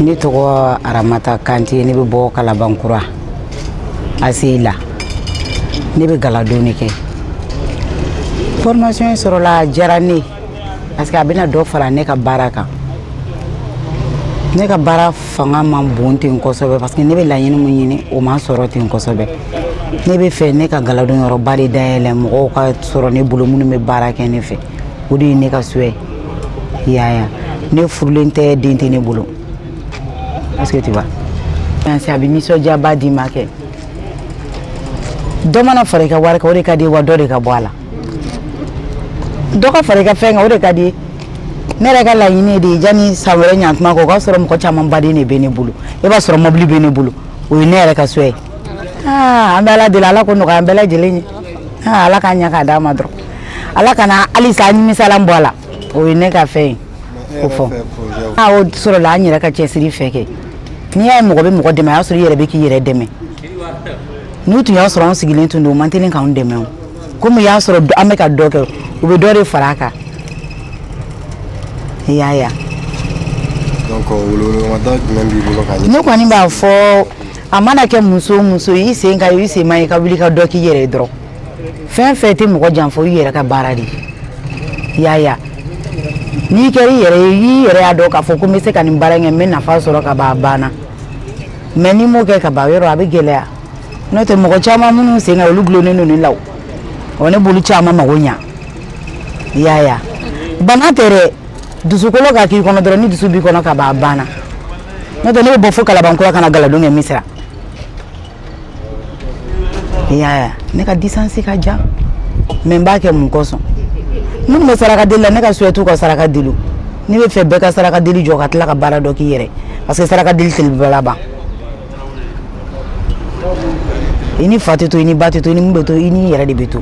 ne tɔgɔ aramata kante ne bɛ bɔ kalabankura aseyi la ne bɛ galadon de kɛ formation sɔrɔla a diyara ne parce que a bɛna dɔ fara ne ka baara kan ne ka baara fanga man bon ten kosɛbɛ parce que ne bɛ laɲini min ɲini o ma sɔrɔ ten kosɛbɛ ne bɛ fɛ ne ka galadon yɔrɔba de dayɛlɛ mɔgɔw ka sɔrɔ ne bolo minnu bɛ baara kɛ ne fɛ o de ye ne ka souhait ye i y'a ye ne furulen tɛ den tɛ ne bolo est-ce que tu vois bien sûr a bɛ nisɔndiyaba d'i ma kɛ dɔ mana fara i ka wari kan o de ka d'i ye wa dɔ de ka bɔ a la dɔ ka fara i ka fɛn kan o de ka d'i ye ne yɛrɛ ka laɲini de ye yanni san wɛrɛ ɲantuma kɔ o k'a sɔrɔ mɔgɔ caman baaraden de bɛ ne bolo i b'a sɔrɔ mɔbili bɛ ne bolo o ye ne yɛrɛ ka souhait ye aa an bɛ ala deli ala k'o nɔgɔya an bɛɛ lajɛlen ye aa ala k'a ɲɛ k'a d'an ma dɔrɔn ala kana halisa nimisalan bɔ a la o ye ne ka fɛn ye ko fɔ a o sɔrɔla an yɛrɛ ka cɛsiri fɛ kɛ n'i y'a ye mɔgɔ bɛ mɔgɔ dɛmɛ a y'a sɔrɔ i yɛrɛ bɛ k'i yɛrɛ dɛmɛ n'u tun y'a sɔrɔ an sigilen tun don o man teli k'an dɛmɛ o komi u y'a sɔrɔ an bɛ ka dɔ kɛ u bɛ dɔ de fara a kan i y'a ye ne kɔni b'a fɔ a mana kɛ muso o muso i sen ka ɲi i sen man ɲi i ka wuli ka dɔ k'i yɛrɛ ye dɔrɔn fɛn fɛn tɛ mɔgɔ janfa i yɛrɛ ka baara de ye i y'a ye n'i kɛra i yɛrɛ ye i yɛrɛ y'a dɔn k'a fɔ ko n bɛ se ka nin baara in kɛ n bɛ nafa sɔrɔ ka ban a banna mais n'i m'o kɛ ka ban yɔrɔ a bɛ gɛlɛya n'o tɛ mɔgɔ caman minnu sen ka ɲi olu dulonnen don ne la o ne b'olu caman mago ɲa i y'a ye bana tɛ dɛ dusukolo ka k'i kɔnɔ dɔrɔn ni dusu b'i kɔnɔ ka ban a banna n'o tɛ ne bɛ bɔ fo kalabankura ka na galadon kɛ misira i y'a ye ne ka distance ka jan mais n b'a kɛ mun kosɔn minnu bɛ saraka deli la ne ka souhait t'u ka saraka deli ne bɛ fɛ bɛɛ ka saraka deli jɔ ka tila ka baara dɔ k'i yɛrɛ parce que saraka deli tɛ laban laban i ni fa tɛ to i ni ba tɛ to i ni mun bɛ to i ni yɛrɛ de bɛ to